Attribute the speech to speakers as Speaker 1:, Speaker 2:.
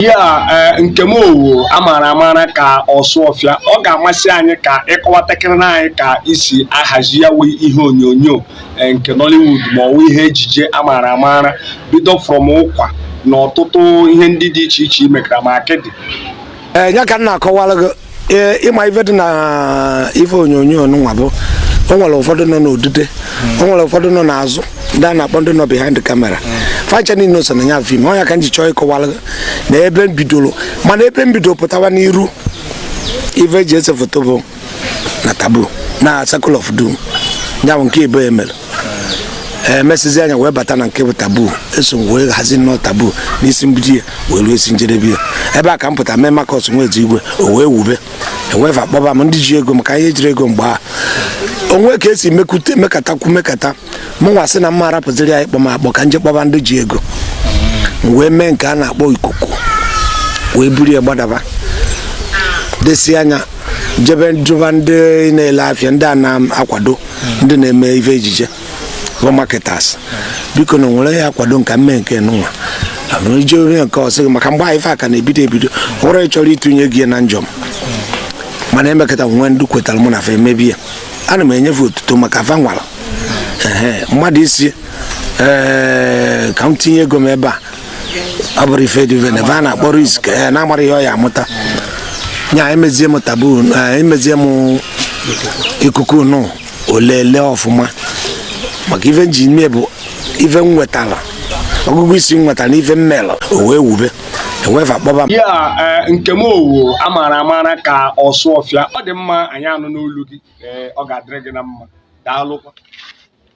Speaker 1: ya eh, Nkem Owoh a maara amara ka Ọsụọfịa ọ ga-amasị anyị ka ị kọwatakịrị na anyị ka i si ahazi ya wụ ihe onyonyo eh, nke Nollywood ma ọ wụ ihe ejije a maara amara bido from Ụkwa na ọtụtụ ihe ndị dị iche iche i mekara ma Akịdị eh, ya ka
Speaker 2: m na-akọwara gị ee ị ma ife dị na ife onyonyo nwa bụ o nwere ụfọdụ nọ n'odide o nwere ụfọdụ nọ n'azụ ndị a na-akpọ ndị nọ behind camera fa ncha niile so na ya film ọ ya ka m ji chọọ ịkọwara gị na ebe m bidoro mana ebe m bidoro pụtawa n'iru ife e ji ese foto bụ na Taboo na Circle of Doom ya bụ nke ebe e mere e mesizie eh, anyị wee bata na nke bụ Taboo eso m wee hazie nnọọ Taboo n'isi mbido ya wee ruo isi njedebe ya ebe a ka m pụta mee Marcus nwezi igwe o wee wube ewu fa akpọba m ndị ji ego maka ihe jiri ego mgbe a o nwe ka e si mekata mekatakwu mekata mụnwa sị na mma arapụziri ya ịkpọ m akpọ ka m je kpọba ndị ji ego m wee mee nke a na-akpọ Ikuku wee buru ya gbadaba desi anya jebe jụba ndị na-ele afịa ndị a na-akwado ndị na-eme ife ejije bụ marketers biko na nwere ya akwado m ka m mee nke mụnwa abụrụ ije onye nke ọsị maka mgbe ife a ka na-ebido ebido nwere chọrọ ịtụnye gị na njọm mana e mekata e nwee ndị kwetara mụ na fa emebe ya ana m enye fa otuto maka fa nwara mmadụ ịsị ee ka m tinye ego m ebe a ọ bụrụ ife dị vene va na-akpọ risk ee na amarọ ihe ọ ya-amụta nya emezie m Taboo ee, emezie m Ikuku nụ o lele ọfụma maka ife m ji mee bụ ife m nwetara ọgụgụ isi m nwetara na ife m mere o wee wube ewu fa kpọba m ya eh, Nkem
Speaker 1: Owoh a maara amara ka Ọsụọfịa ọ dị mma anyị anụna olu gị eh, ọ ga-adịrị gị na mma daalụkwa